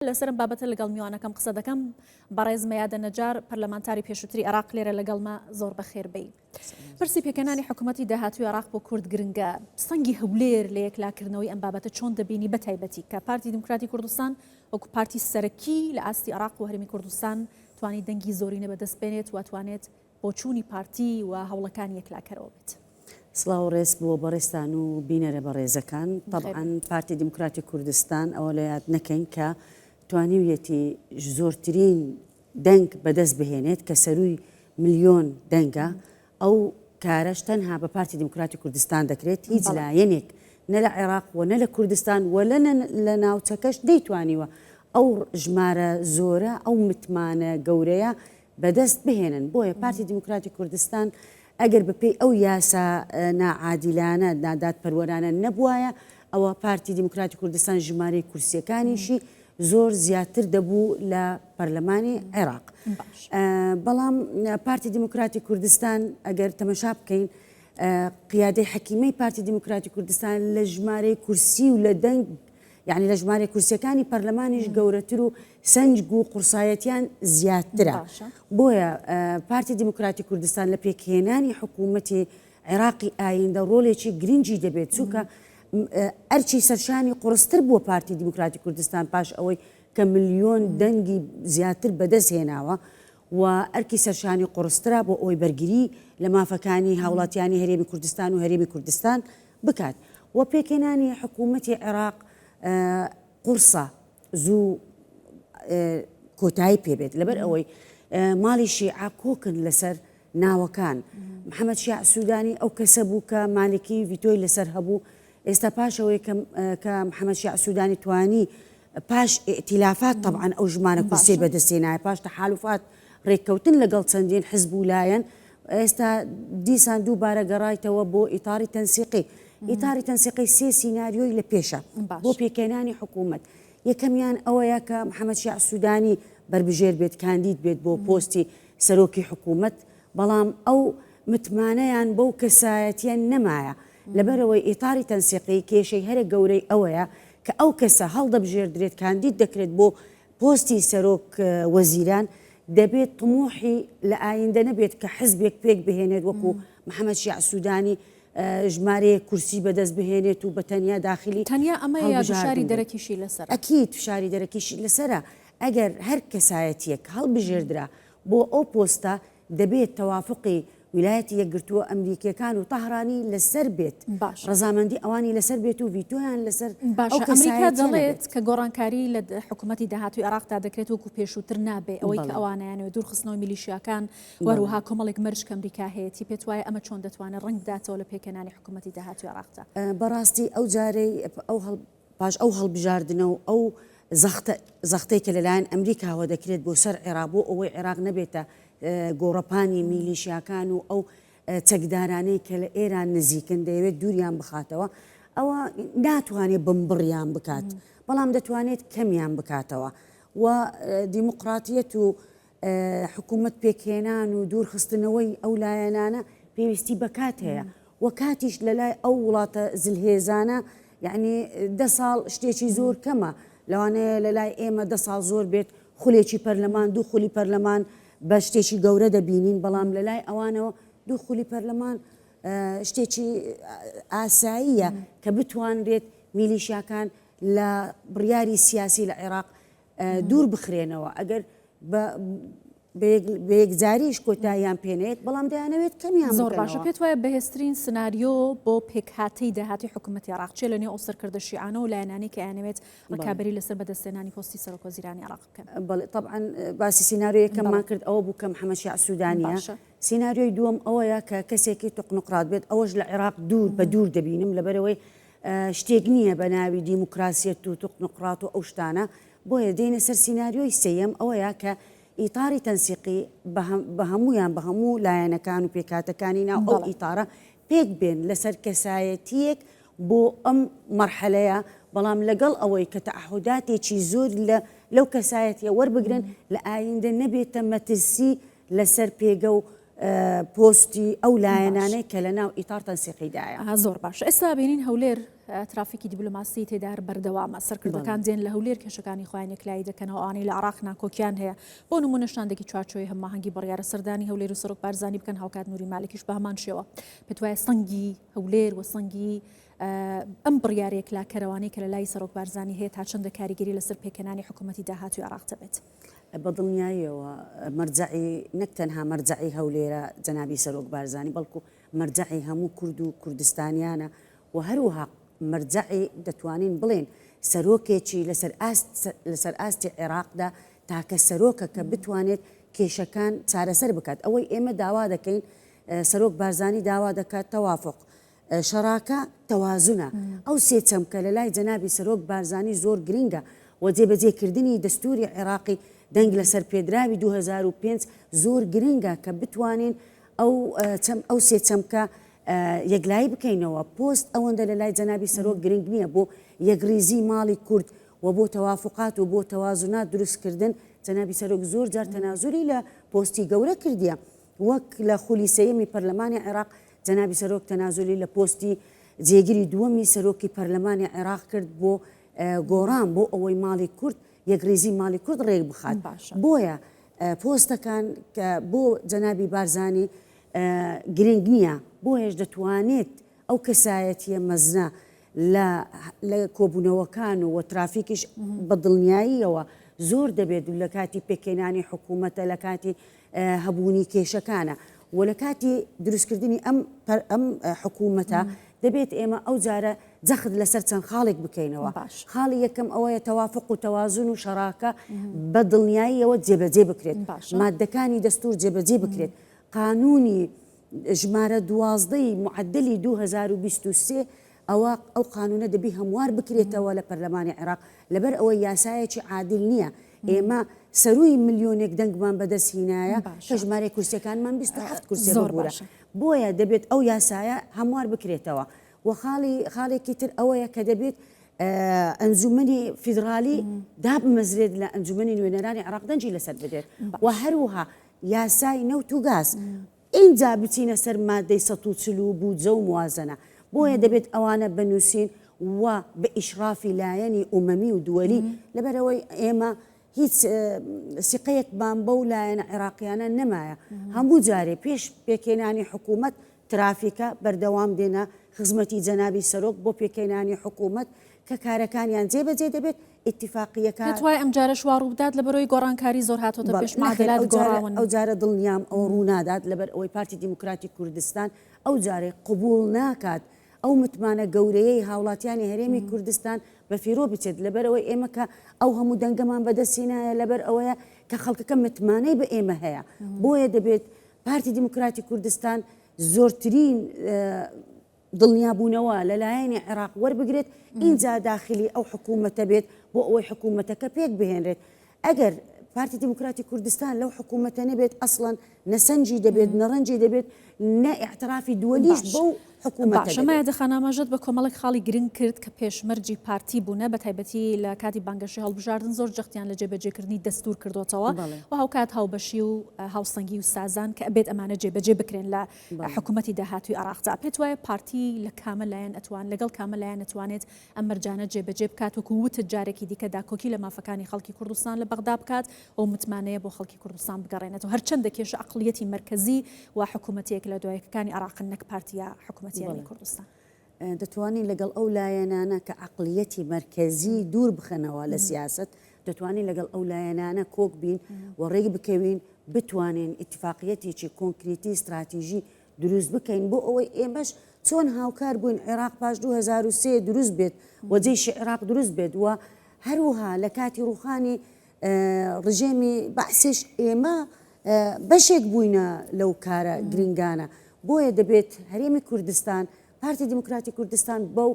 لەسەر ئەم بابەتە لەگەڵ میوانەکەم قسە دەکەم، بەڕێز مەیادە نەجار، پەرلەمانتاری پێشووتری عێراق لێرە لەگەڵمە، زۆر بەخێربێی. پرسی پێکهێنانی حکومەتی داهاتووی عێراق بۆ کورد گرنگە، سەنگی هەولێر لە یەکلاکردنەوەی ئەم بابەتە چۆن دەبینی بە تایبەتی کە پارتی دیموکراتی کوردستان وەکو پارتی سەرەکی لە ئاستی عێراق و هەرێمی کوردستان توانی دەنگی زۆرینە بەدەست بێنێت و توانێت بۆچوونی پارتی و هەوڵەکانی یەکلاکەرەوە بێت. سڵاو و ڕێز بۆ بەڕێزتان و بینەرە بەڕێزەکان. تەبعەن پارتی دیموکراتی کوردستان ئەوە لە یاد نەکەین کە توانیویەتی زۆرترین دەنگ بەدەست بهێنێت کە سەرووی ملیۆن دەنگە، ئەو کارەش تەنها بە پارتی دیموکراتی کوردستان دەکرێت، هیچ لایەنێک نە لە عێراق و نە لە کوردستان و لە لە ناوچەکەش نەیتوانیوە ئەو ژمارە زۆرە، ئەو متمانە گەورەیە بەدەست بهێنن، بۆیە پارتی دیموکراتی کوردستان ئەگەر بەپێی ئەو یاسا ناعادیلانە، نادادپەروەرانە نەبوایە، ئەوا پارتی دیموکراتی کوردستان ژمارەی کورسیەکانیشی زۆر زیاتر دەبوو لە پەرلەمانی عێراق. بەڵام پارتی دیموکراتی کوردستان ئەگەر تەمەشا بکەین، قیادەی حەکیمەی پارتی دیموکراتی کوردستان لە ژمارەی کورسی و لە دەنگ یعنی لە ژمارە کورسەکانی پەرلەمانیش گەورەتر و سەنگ و قورسایەتیان زیادترە، بۆیە پارتی دیموکراتی کوردستان لە پێکهێنانی حکوومەتی عێراقی ئاییندە ڕۆلێکی گرنگی دەبێت، چونکە ئەرکی سەرشانی قوڕستر بووە پارتی دیموکراتی کوردستان پاش ئەوەی کە ملیۆن دەنگی زیاتر بەدەست هێناوە و ئەرکی سەرشانی قوڕسترا بۆ ئەوەی بەرگری لە مافەکانی هاوڵاتیانی هەرێمی کوردستان و هەرێمی کوردستان بکات و پێکهێنانی حکوومەتی عێراق قوڕسە. زوو کۆتایی پێبێت لەبەر ئەوەی ماڵی شیعە کۆکن لەسەر ناوەکان محەممەد شیع سوودانی ئەو کەسە بوو کە مالکی ڤیتۆی لەسەر هەبوو ئێستا پاشەوەی کە محەممەد شیع سوودانی توانی پاش ئتیلافات طبعاان ئەو ژمانە کورسی بەدەستێنایە پاش تەحالفات ڕێککەوتن لەگەڵ چەندین حزب و لایەن ئێستا دیسان دووبارە گەڕایتەوە بۆ ئیتاڕی تەنسیقی. ئیتاڕی تەنسیقی سێ سیناریۆی لە پێشە بۆ پێکهێنانی حکوومەت. یەکەمیان ئەوەیە کە محەمەد شیاع سوودانی بەربژێر بێت، کاندید بێت بۆ پۆستی سەرۆکی حکوومەت، بەڵام ئەو متمانەیان بەو کەسایەتییە نەمایە، لەبەرئەوەی ئیتاڕی تەنسیقی کێشەی هەرە گەورەی ئەوەیە کە ئەو کەسە هەڵدەبژێردرێت، کاندید دەکرێت بۆ پۆستی سەرۆک وەزیران دەبێت طموحی لە ئایندە نەبێت کە حزبێک پێک بهێنێت وەکو محمد شیاع سودانی ژمارەیەک کورسی بەدەست بهێنێت و بە تەنیا داخلی تەنیا ئەمە یا فشاری دەرەکیشی لەسەر ئەکیت فشاری دەرەکیشی لەسرە ئەگەر هەر کەسایەتیەک هەڵبژێردرا بۆ ئەو پۆستە دەبێت تەوافقی ویلایەتە یەکگرتووە ئەمریکییەکان و تەهرانی لەسەر بێت، ڕەزامەندی ئەوانی لەسەر بێت و ڤیتۆیان لەسەر ئەو کەسایەتییە نەبێت. باشە، ئەمریکا دەڵێت کە گۆڕانکاری لە حکومەتی داهاتووی عێراقدا دەکرێت وەکو پێشووتر نابێت، ئەوەی کە ئەوانەیانەوێت دوورخستنەوەی میلیشیاکان و هەروەها کۆمەڵێک مەرج کە ئەمریکا هەیەتی، پێت وایە ئەمە چۆن دەتوانێت ڕەنگ بداتەوە لە پێکهێنانی حکومەتی داهاتووی عێراقدا؟ بەڕاستی ئەو جارەی ئەو هەڵ. پاش ئەو هەڵبژاردنە و ئەو زەختە زەختەی کە لەلایەن ئەمریکاوە دەکرێت بۆ سەر عێراق بۆ ئەوەی عێراق نەبێتە گۆڕەپانی میلیشیاکان و ئەو چەکدارانەی کە لە ئێران نزیکن دەیەوێت دووریان بخاتەوە ئەوە ناتوانێت بمبڕیان بکات بەڵام دەتوانێت کەمیان بکاتەوە و دیموقراتیەت و حکومەت پێکهێنان و دوورخستنەوەی ئەو لایەنانە پێویستی بە کات هەیە و کاتیش لە لای ئەو وڵاتە زلهێزانە یعنی دە ساڵ شتێکی زۆر کەمە لەوانەیە لە لای ئێمە دە ساڵ زۆر بێت خولێکی پەرلەمان دوو خولی پەرلەمان بە شتێکی گەورە دەبینین بەڵام لە لای ئەوانەوە دوو خولی پەرلەمان شتێکی ئاساییە کە بتوانرێت میلیشاکان لە بڕیاری سیاسی لە عێراق دوور بخرێنەوە ئەگەر بەیەکجاریش کۆتاییان پێنێت بەڵام دەیانەوێت کەمیان زۆر باشە پێت وایە بەهێزترین سناریۆ بۆ پێکهاتەی داهاتی حکوومەتی عراق چێ لە نێو ئەو سەرکردە شیعانە و لایەنانی کە یانەوێت ڕکابی لەسەر بەدەستێنانی پۆستی سەرۆکۆ زیرانی عراق بکەن بەڵێ طبعا باسی سینناریۆیەکەمان کرد ئەوە بوو کەم حەمە شیع سوودانیە سینناریۆی دووەم ئەوەیە کە کەسێکی تقنقرات بێت ئەوەش لە عێراق دوور بە دوور دەبینم لەبەرەوەی شتێک نییە بە ناوی دیموکراسیەت و توخنوقراط و ئەو شتانە، بۆیە دێینە سەر سیناریۆی سێیەم ئەوەیە کە ئیتاری تەنسیقی بە هەموویان بە هەموو لایەنەکان و پێکهاتەکانی ناو ئەو ئیتارە پێک بێن لەسەر کەسایەتیەک بۆ ئەم مەرحەلەیە بەڵام لەگەڵ ئەوەی کە تەعهوداتێکی زۆر لە لەو کەسایەتیە وەربگرن لە ئایندە نەبێتە مەترسی لەسەر پێگە و پۆستی ئەو لایەنانەی کە لە ناو ئیتار تەنسیقی دایە. زۆر باش ئێستا بینین هەولێر ترافیکی دیبلۆماسی تێدا بەردەوامە سەرکردەکان دێن لە هەولێر کێشەکانی خۆیان یەکلایی دەکەنەوە ئەوانەی لە عێراق ناکۆکیان هەیە بۆ نموونە شاندێکی چوارچێوەی هەماهەنگی بڕیارە سەردانی هەولێر و سەرۆک بارزانی بکەن هاوکات نوری مالکیش بە هەمان شێوە پێت وایە سەنگی هەولێر و سەنگی ئەم بڕیارە یەکلاکەرەوانەی کە لە لای سەرۆک بارزانی هەیە تا چەندە کاریگەری لەسەر پێکهێنانی حکوومەتی داهاتووی عێراق دەبێت بە دڵنیاییەوە مەرجەعی نەک تەنها مەرجەعی هەولێرە جەنابی سەرۆک بارزانی بەڵکو مەرجەعی هەموو کورد و کوردستانیانە و هەروەها مەرجەعی دەتوانین بڵێین سەرۆکێکی لەسەر ئاست لەسەر ئاستی عێراقدا تاکە سەرۆکە کە بتوانێت کێشەکان چارەسەر بکات ئەوەی ئێمە داوا دەکەین سەرۆک بارزانی داوا دەکات تەوافق شەڕاکە تەوازنە، ئەو سێ چەمکە لە لای جەنابی سەرۆک بارزانی زۆر گرنگە و جێبەجێ کردنی دەستووری عێراقی دەنگ لەسەر پێدراوی دوو هەزار و پێنج زۆر گرنگە کە بتوانین ئەو چەم ئەو سێ چەمکە یەکلایی بکەینەوە پۆست ئەوەندە لە لای جەنابی سەرۆک گرنگ نییە بۆ یەکڕیزی ماڵی کورد و بۆ تەوافقات و بۆ تەوازنات دروستکردن جەنابی سەرۆک زۆر جار تەنازوری لە پۆستی گەورە کردیە وەک لە خولی سێیەمی پەرلەمانی عێراق، جەنابی سەرۆک تەنازولی لە پۆستی جێگری دووەمی سەرۆکی پەرلەمانی عێراق کرد بۆ گۆڕان بۆ ئەوەی ماڵی کورد یەکریزی ماڵی کورد ڕێک بخات بۆیە پۆستەکان کە بۆ جەنابی بارزانی گرنگ نییە بۆ هێش دەتوانێت ئەو کەسایەتیە مەزنە لە کۆبوونەوەکان و وە ترافیکیش بە دڵنیاییەوە زۆر دەبێت و لە کاتی پێکێنانی حکوومەتە لە کاتی هەبوونی کێشەکانە و لە کاتی دروستکردنی ئەم ئەم حکوومەتە دەبێت ئێمە ئەو جارە جەخت لەسەر چەند خاڵێک بکەینەوە باش خاڵی یەکەم ئەوەیە تەوافق و تەوازن و شەراکە بە دڵنیاییەوە جێبەجێ بکرێت باش مادەکانی دەستور جێبەجێ بکرێت قانونی ژمارە دوازدەی معدلی 2023 ئەوا ئەو قانوونە دەبی هەموار بکرێتەوە لە پەرلەمانی عێراق، لەبەر ئەوەی یاسایەکی عادیل نییە، ئێمە سەرووی ملیۆنێک دەنگمان بەدەست هینایە کە ژمارەی کورسیەکانمان بیست و حەفت کورسیە ببورە، بۆیە دەبێت ئەو یاسایە هەموار بکرێتەوە و خاڵی خاڵێکی تر ئەوەیە کە دەبێت ئەنجومەنی فیدڕالی دابمەزرێت لە ئەنجومەنی نوێنەرانی عێراق دەنجی لەسەر بدرێت و هەروها یاسای نەوت و گاز ئینجا بچینە سەر مادەی سەد و چل و بودجە و موازەنە. بۆیە دەبێت ئەوانە بنووسین و بە ئیشرافی لایەنی ئومەمی و دوەلی، لەبەرئەوەی ئێمە هیچ سیقەیەکمان بەو لایەنە عێراقییانە نەمایە. هەموو جارێ پێش پێکهێنانی حکوومەت ترافیکە، بەردەوام دێنە خزمەتی جەنابی سەرۆک بۆ پێکهێنانی حکوومەت، کە کارەکانیان جێ بەجێ دەبێت ئیتیفاقیەکە. دەتوای ئەم جارەش وا ڕووبدات لە بەرۆی گۆڕانکاری زۆر هاتۆتە پێش مادەلات گۆڕاون ئەو جارە دڵنیام ئەو ڕوونادات لەبەر ئەوەی پارتی دیموکراتی کوردستان ئەو جارێ قوبول ناکات ئەو متمانە گەورەیەی هاوڵاتیانی هەرێمی کوردستان بە فیرۆ بچێت لەبەر ئەوەی ئێمە کە ئەو هەموو دەنگەمان بەدەستی نایە لەبەر ئەوەیە کە خەڵکەکە متمانەی بە ئێمە هەیە بۆیە دەبێت پارتی دیموکراتی کوردستان زۆرترین دڵنیابوونەوە لە لایەنی عێراق وەربگرێت ئینجا داخلی ئەو حکوومەتە بێت بۆ ئەوەی حکوومەتەکە پێک بهێنرێت ئەگەر پارتی دیموکراتی کوردستان لەو حکوومەتە نەبێت ئەسڵەن نەسەنجی دەبێت نەڕەنجی دەبێت نە ئیعترافی دووەلیش بەو حکوومەتە باشە مایە دەبێت. خان ئاماژەت بە کۆمەڵێک خاڵی گرنگ کرد کە پێشمەرجی پارتی بوونە بە تایبەتی لە کاتی بانگەشەی هەڵبژاردن زۆر جەختیان لە جێبەجێکردنی دەستوور کردۆتەوە بەڵێ. و هاوکات هاوبەشی و هاوسەنگی و سازان کە ئەبێت ئەمانە جێبەجێ بکرێن لە حکومەتی داهاتووی عێراق، جا پێت وایە پارتی لە کامە لایەن ئەتوان لەگەڵ کامە لایەن ئەتوانێت ئەم مەرجانە جێ بەجێ بکات وەکو وتت جارێکی دیکە داکۆکی لە مافەکانی خەڵکی کوردستان لە بەغدا بکات و متمانەیە بۆ خەڵکی کوردستان بگەڕێنێتەوە هەرچەندە کێشە ئەقڵیەتی مەرکەزی و حکومەتیەک لە دوایەکەکانی عێراقن نەک پارتیە حکومەتیەکەی کوردستان. دەتوانین لەگەڵ ئەو لایەنانە کە عەقڵیەتی مەرکەزی دوور بخەنەوە لە سیاسەت، دەتوانین لەگەڵ ئەو لایەنانە کۆک بین و ڕێک بکەوین بتوانین ئیتفاقیەتێکی کۆنکریتی ستراتیژی دروست بکەین بۆ ئەوەی ئێمەش چۆن هاوکار بووین عێراق پاش دوو هەزار و سێ دروست بێت و جەیشی عێراق دروست بێت و هەروها لە کاتی ڕووخانی ڕژێمی بەعسیش ئێمە بەشێک بووینە لەو کارە گرنگانە بۆیە دەبێت هەرێمی کوردستان پارتی دیموکراتی کوردستان بەو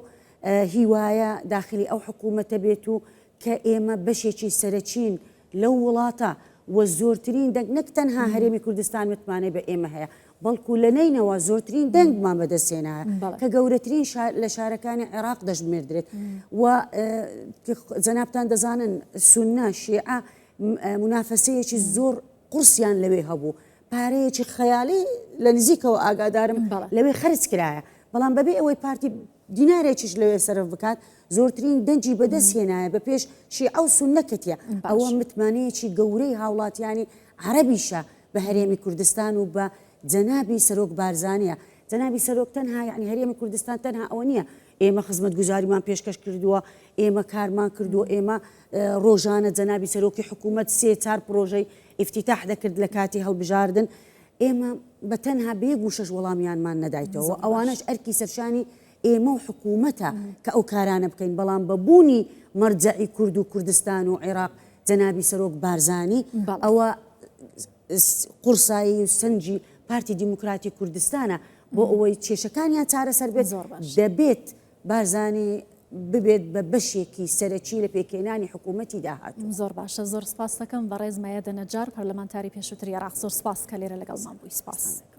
هیوایە داخلی ئەو حکوومەتە بێت و کە ئێمە بەشێکی سەرەکیین لەو وڵاتە و زۆرترین دەنگ نەک تەنها هەرێمی کوردستان متمانەی بە ئێمە هەیە بەڵکو لە نەینەوا زۆرترین دەنگمان بەدەستهێنایە کە گەورەترین لە شارەکانی عێراق دەژمێردرێت و جەنابان دەزانن سونە شێعە منافەسەیەکی زۆر قورسیان لەوێ هەبوو پارەیەکی خەیالی لە نزیکەوە ئاگادارم لەوێ خرج کرایە بەڵام بەبێ ئەوەی پارتی دینارێکیش لەوێ سەرف بکات زۆرترین دەنجی بەدەست هێنایە بە پێش شی ئەو سون نەکەتە ئەوە متمانەیەکی گەورەی هاوڵاتیانی عربیشە بە هەرێمی کوردستان و بە جەنابی سەرۆک بارزانیە، جەنابی سەرۆک تەنها یەعنی هەرێمی کوردستان تەنها ئەوە نیە ئێمە خزمەتگوزاریمان پێشکەش کردووە، ئێمە کارمان کردووە، ئێمە ڕۆژانە جەنابی سەرۆکی حکوومەت سێ چار پڕۆژەی ئیفتیتاح دەکرد لە کاتی هەڵبژاردن، ئێمە بە تەنها بە یەک وشەش وەڵامیانمان نەدایتەوە و ئەوانەش ئەرکی سەرشانی ئێمە و حکوومەتە کە ئەو کارانە بکەین، بەڵام بە بوونی مەرجەعی کورد و کوردستان و عێراق، جەنابی سەرۆک بارزانی، ئەوە قوڕسایی و سەنگی پارتی دیموکراتی کوردستانە بۆ ئەوەی کێشەکانیان چارەسەر بێت، دەبێت بارزانی ببێت بە بەشێکی سەرەکی لە پێکهێنانی حکوومەتی داهاتوو. زۆر باشە، زۆر سپاستەکەم بەڕێز مەیەدە نەجار، پەرلەمانتاری پێشووتری عێراق. زۆر سپاس کە لێرە لەگەڵمان بووی. سپاس.